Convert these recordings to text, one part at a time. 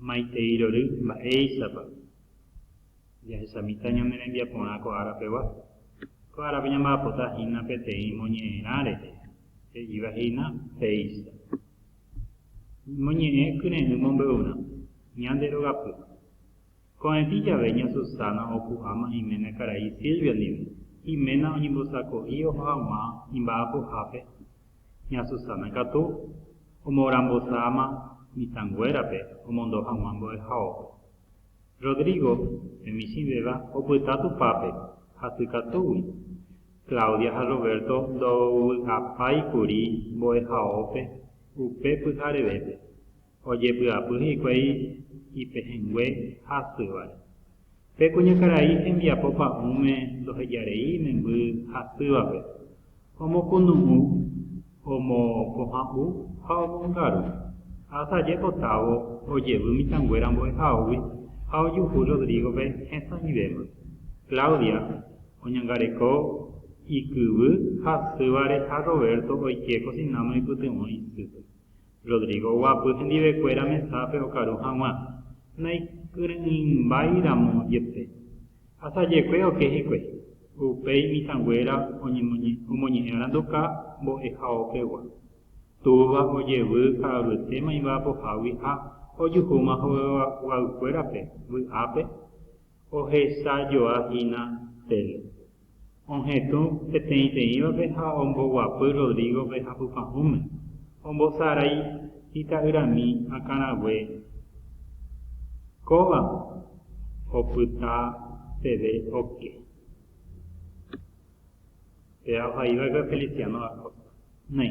Maitei rory mba'éichapa jahesamita ñane rembiaporã ko ára pegua. Ko árape ñamba'apota hína peteĩ moñe'ẽrã rehe, he'íva hína péicha. Moñe'ẽ kyre'ỹ mombe'urã, ñande rogapy. Ko'ẽti jave ña Susana opu'ãma iména karai Silvia ndive, iména oñembosako'i oho haguã imba'apohápe Ña Susana katu omorambosáma mitãnguérape omondo hag̃ua mbo'ehaópe. Rodrigo, pe michĩvéva, opyta Tupãpe hasy katúgui. Claudia ha Roberto ndovy'apái kuri mbo'ehaópe upe pyharevépe. Ojepy'apy hikuái ipehẽngue hasyvare. Pe kuñakarai hembiapo pa'ũme ndoheja rei memby hasyvape, omokunu'ũ, omokohã'u ha omongaru. Asaje potávo ojevy mitãnguéra mbo'ehaógui ha ojuhu Rodrígope hesãivéma. Claudia oñangareko ikyvy hasyvare ha Roberto oike kosináme oipytyvõ isýpe. Rodrigo oguapy hendivekuéra mesápe okaru hag̃ua, naikyre'ỹimbái ramo jepe. Asajekue oke hikuái, upéi mitãnguéra omoñe'ẽ aranduka mbo'ehaópegua. Túva ojevy ka'avyete maimba pohágui ha ojuhúma hoveguaykuérape vy'ápe ohechajoa hína tele. Ohetũ peteĩteĩvape ha omboguapy Rodrígope hapypahũme, ombosarái ita'yrami akãrague kóva opyta peve oke. Péva ohaiva'ekue Feliciano da Costa. Néi,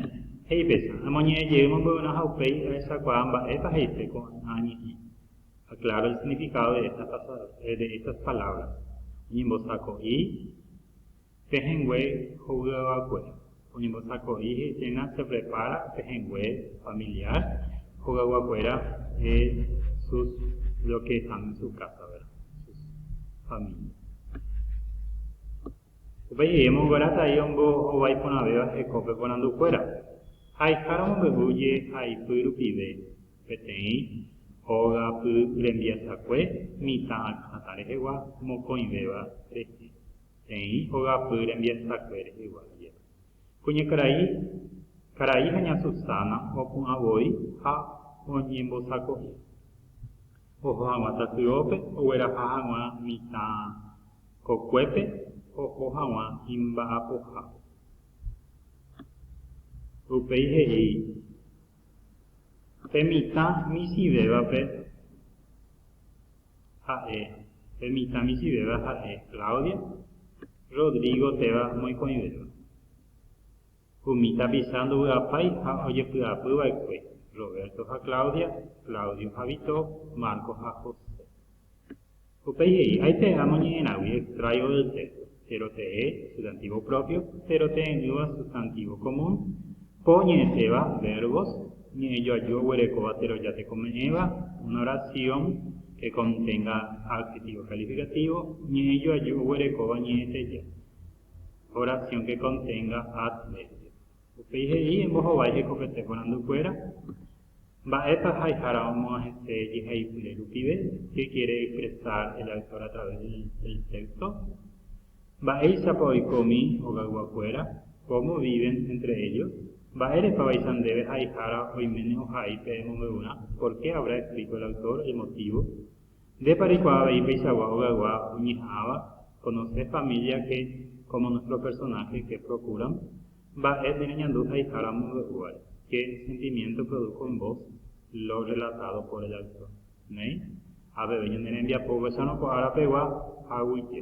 he'i péicha, amoñe'ẽ jeýma mboyvena ha upéi ahechakuaa mba'épa he'ise ko'ã ñe'ẽ. Aclara el significado de estas frases, de estas palabras, oñembosako'i, pehẽngue hovyava'ekue, oñembosako'i he'iséna se prepara, pehẽngue familiar, hogayguakuéra de sus los que están en su casa, ¿verdad? Sus familia. Upéi he'i omongueráta ahí ombohovái porãvéva hekópe porandukuéra. Ha'eihára omombe'u je'aipy rupive, Peteĩ hogapy rembiasakue mitã akãta rehegua mokõivéva rehe, peteĩ hogapy rembiasakue rehegua jepe. Kuñakarai, karai ha ña Susana opu'ã voi ha oñembosako'i. Oho hag̃ua tasyópe ogueraha hag̃ua mitã kokuépe oho hag̃ua imba'apohápe. Upéi he'i. Pe mitã misivévape ha'e, pe mitã misivéva ha'e Claudia, Rodrigo téva moikõivéva. Umi tapicha ndovy'apái ha ojepy'apy va'ekue, Roberto ha Claudia, Claudio ha Vito, Marco ha José. Upéi he'i, Aite amoñe'ẽrãgui extrayo oite, péro te'e, sustantivo propio, péro te'ẽ'ỹva sustantivo común, po oñe'ẽséva, verbos, ñe'ẽ joaju oguerekóva teroja tekome'ẽva, una oración que contenga adjetivo calificativo, ñe'ẽ joaju oguerekóva ñe'ẽteja, oración que contenga adverbio. Upéi he'i, Embohovái hekopete porandukuéra. Mba'épa haihára omo'ãhete jeheipyre rupive qué quiere expresar el autor a través del texto? Mba'éichapa oiko umi hogayguakuéra? Cómo viven entre ellos? Mba'érepa vaicha ndéve haihára oiméne ohai pe emombe'urã? Por qué habrá escrito el autor el motivo? Ndépa reikuaa avei peichagua hogaygua oñeha'ãva? Conoces familia que, como nuestro personaje, que procuran? Mba'e nereñandu haihára mombe'úvare? Qué sentimiento produjo en vos lo relatado por el autor? Néi, ha peve ñane rembiapo ovecharõ ko ára pegua, aguyje.